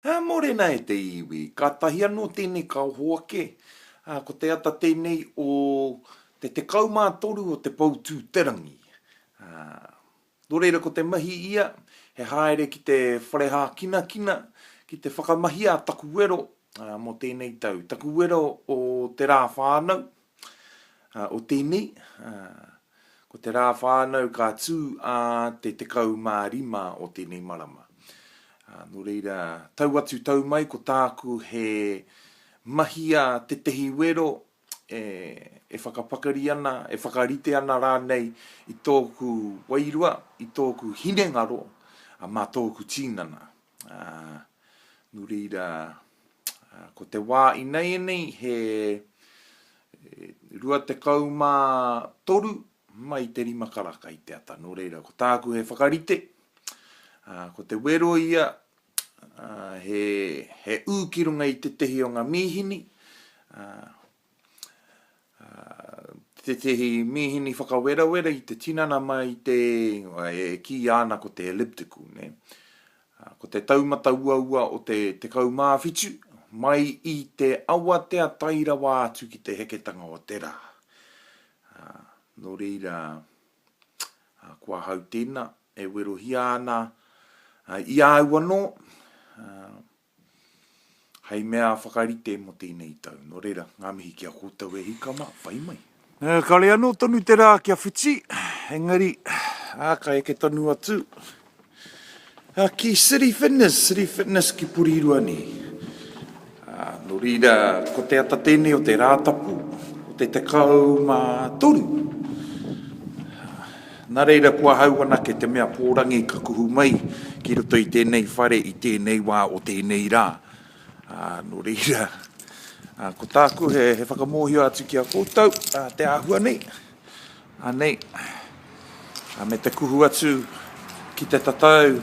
Ā, mōrena e te iwi, kātahi anō tēnei ka hoake, ā, ko te ata tēnei o te 13 o te Poutū-te-rangi. Ā, nō reira ko te mahi ia, he haere ki te whare hākinakina, ki te whakamahia taku wero, ā, mō tēnei tau, taku wero o te rā whānau, O tēnei, ko te rā whānau ka tū ā te 15 o tēnei marama. Nō reira, tau atu tau mai ko tāku he mahia tētehi wero e whakapakari ana, e whakarite ana rānei i tōku wairua, i tōku hinengaro mā tōku tīnana. Ā, nū reira, ko te wā inaianei he 23 mai te rima karaka i te ata. Nō reira, ko tāku he whakarite, ā, ko te wero ia, ā, he, he ū ki runga i tētehi o ngā mīhini, ā, tētehi mīhini whakawerawera i te tinana mai i te, e kīia ana ko te elliptical, ne? Ko te taumata uaua o te 17, mai i te awatea tae rawa atu ki te heketanga o te rā. Nō reira, ko ahau tēnā, e werohia ana i a au anō, hei mea whakarite mō tēnei tau. Nō reira, ngā mihi ki a koutou e hika mā, pai mai. Kare anō tonu te rā kia whiti, engari, ka eke tonu atu ki City Fitness, City Fitness ki Porirua nei. Nō reira, ko te ata tēnei o te Rātapu o te 13. Nā reira ko ahau anake te mea pōrangi ka kuhu mai ki roto i tēnei whare i tēnei wā o tēnei rā. Ā, nō reira, ā, ko tāku he, he whakamōhio atu ki a koutou, ā, te āhua nei, anei, ā, me te kuhu atu ki te tatau,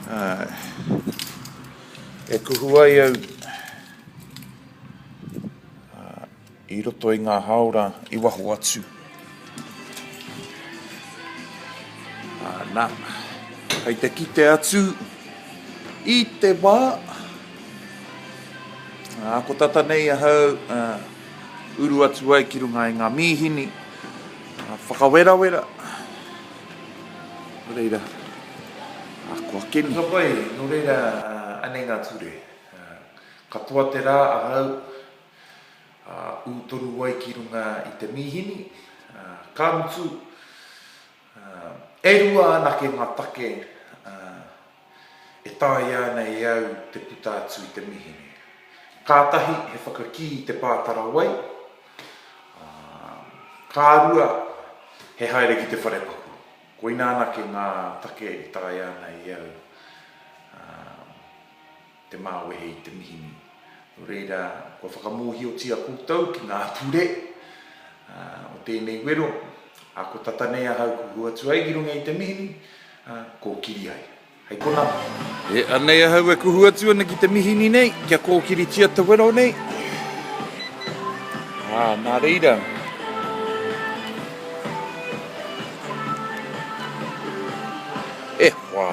ā, e kuhu ai au, ā, I roto i ngā hāora i waho atu. Ana, hei te kite atu i te wā. Ā, ko tata nei ahau, ā, uru atu ai ki runga i ngā mīhini, ā, whakawerawera. Nō reira, ā, kua keni. Ka pai, nō reira, ā, anei ngā ture. Ā, katoa te rā ahau. Ū toru wai ki runga i te mīhini, ka mutu, e rua anake ngā take e taea ana e au te puta atu i te mīhini. Kātahi he whakakī i te pātara wai, ā, ka rua, he haere ki te wharepaku. Koina anake ngā take e taea ana e au. te māwehe i te mihini. Nō reira, kua whakamōhiotia koutou ki ngā ture o tēnei wero, ā, kua tata nei ahau kua hua atu ai ki runga i te mihini, ā, kōkiri ai. Hei konā. E, anei ahau e kuhu atu ana ki te mihini nei, kia kōkiritia te wero nei. Ā, nā reira. E hoa!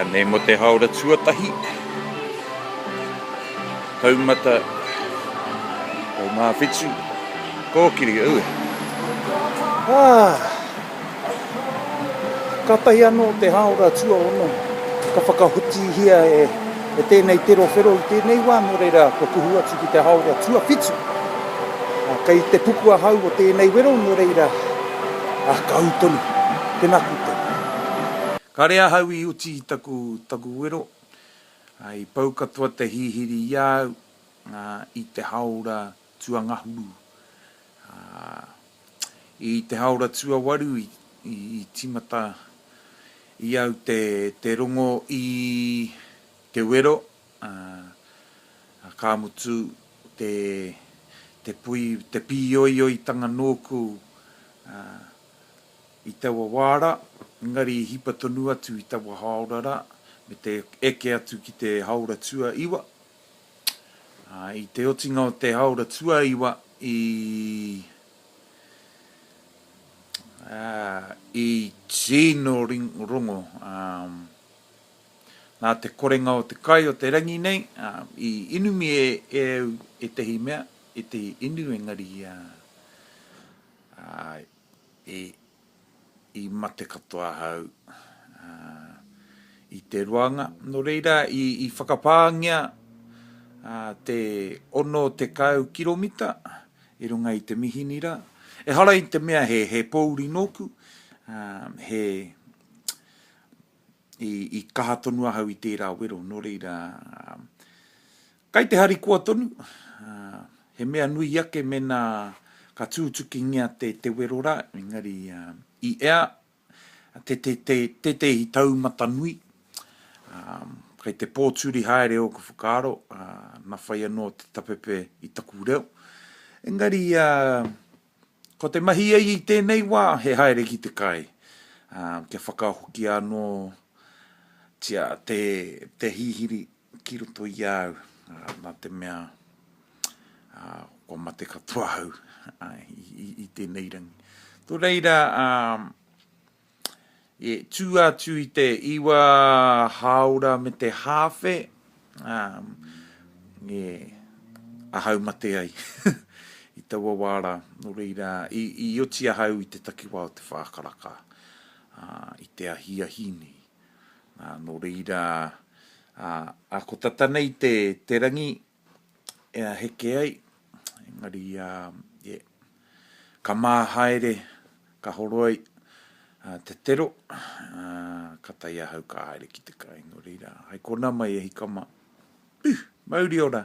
Anei mo te haora tuatahi. Taumata. Taumawhitu. Kōkiri, ui. Ah. Kātahi anō te hāora tuaono ka whakahotiihia e tēnei terowhero i tēnei wā nō reira kua kuhu atu ki te hāora tuawhitu. Kei te puku ahau o tēnei wero nō reira ka ū tonu, tēnā koutou. Kāre ahau i uti i taku wero, i pau katoa te hihiri i a au i te hāora Tuangahuru. I te haora tuawaru i timata i au te rongo i te wero, ka mutu te pui, te pīoioitanga nōku i taua wā rā, engari i hipa tonu atu i taua haora rā me te eke atu ki te haora tuaiwa. I te otinga o te haora tuaiwa i i tino rongo nā te korenga o te kai o te rangi nei i inumi e au ētahi mea, ētahi inu engari i i mate katoa ahau i te roanga. Nō reira, i whakapāngia te 60 kiromita i runga i te Mihinira. Ehara i te mea he pōuri nōku, he, i kaha tonu ahau i tērā wero, nō reira, Kai te harikoa tonu, he mea nui ake mena ka tūtukingia te te wero ra, engari i ea te te te tetehi taumata nui, kai te pōturi haere oku whakaaro, na whai anō te tapepe i taku reo. Engari ko te mahi ai i tēnei wā he haere ki te kai, kia whakahokia anō tia te te hihiri Ki roto i a au, nā te mea kua mate katoa au i tēnei rangi. Nō reira, e tū atu i te iwa hāora me te hāwhe, e ahau mate ai i taua wā rā. Nō reira, i oti ahau i te takiwā o te whākaraka i te ahiahi nei. Nō reira, ā, ko tata nei te rangi e aheke ai, engari, ē, ka mā haere, ka horo ai te tero, ā, ka tae ahau ka haere ki te kai. Nō reira, hai kona mai e hika mā. Ū! Mauri ora!